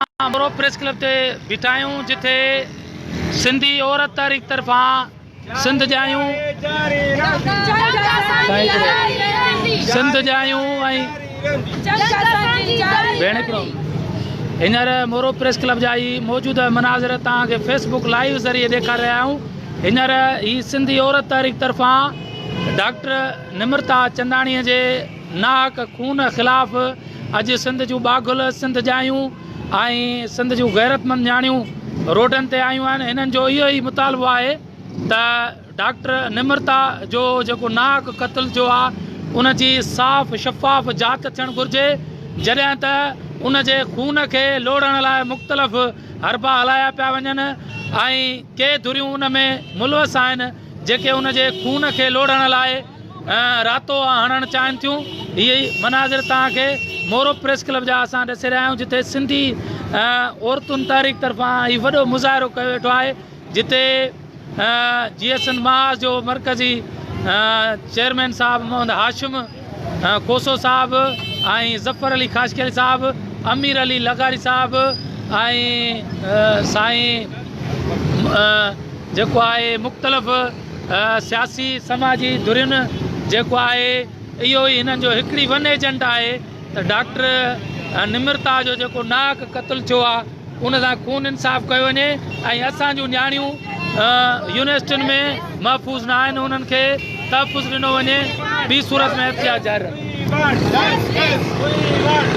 اسان ڀرو press club تي بيٺا آهيون جتي سنڌي عورت تحريڪ طرفان سنڌ جايون سنڌ جايون ۽ هينئر مورو پريس ڪلب جا هي موجوده مناظر توهان کي فيس بڪ لائيو ذريعي ڏيکاري رهيا آهيون هينئر هي سنڌي عورت تحريڪ طرفان ڊاڪٽر نمرتا چنداڻي جي ناحق خون خلاف اڄ سنڌ جون ٻاگهل، سنڌ ڄايون ۽ سنڌ جون غيرتمند نياڻيون روڊن تي آيون آهن، هنن جو اهو ئي مطالبو آهي ته ڊاڪٽر نمرتا جو جيڪو ناحق قتل ٿيو آهي ان جي صاف شفاف جاچ ٿيڻ گهرجي جڏهن ته ان جي خون کي لوڙهڻ لاء مختلف حربا هلايا پيا وڃن ۽ ڪي ڌريون ان ۾ ملوث آهن جيڪي ان جي خون کي لوڙهڻ لاء راتو هڻڻ چاهن ٿيون هي ئي مناظر توهان کي مورو پريس ڪلب جا اسان ڏسي رهيا آهيون جتي سنڌي عورتن تحريڪ طرفان هي وڏو مظاهرو ڪيو ويٺو آهي جتي جي ايس اين محاذ جو مرڪزي چيئرمين صاحب محمد هاشم کوسو صاحب ۽ ظفر علي خاشڪيل صاحب امير علي لغاري صاحب ۽ سائين جيڪو آهي مختلف سياسي سماجي ڌرين جيڪو آهي اهو ئي هنن جو هڪڙي ون ايجنڊا آهي ته ڊاڪٽر نمرتا جو جيڪو ناحق قتل ٿيو آهي ان سان خون انصاف ڪيو وڃي ۽ اسان جون نياڻيون يونيورسٽين ۾ محفوظ نه آهن انهن کي تحفظ ڏنو وڃي ٻي صورت ۾ احتجاج جاري رهندو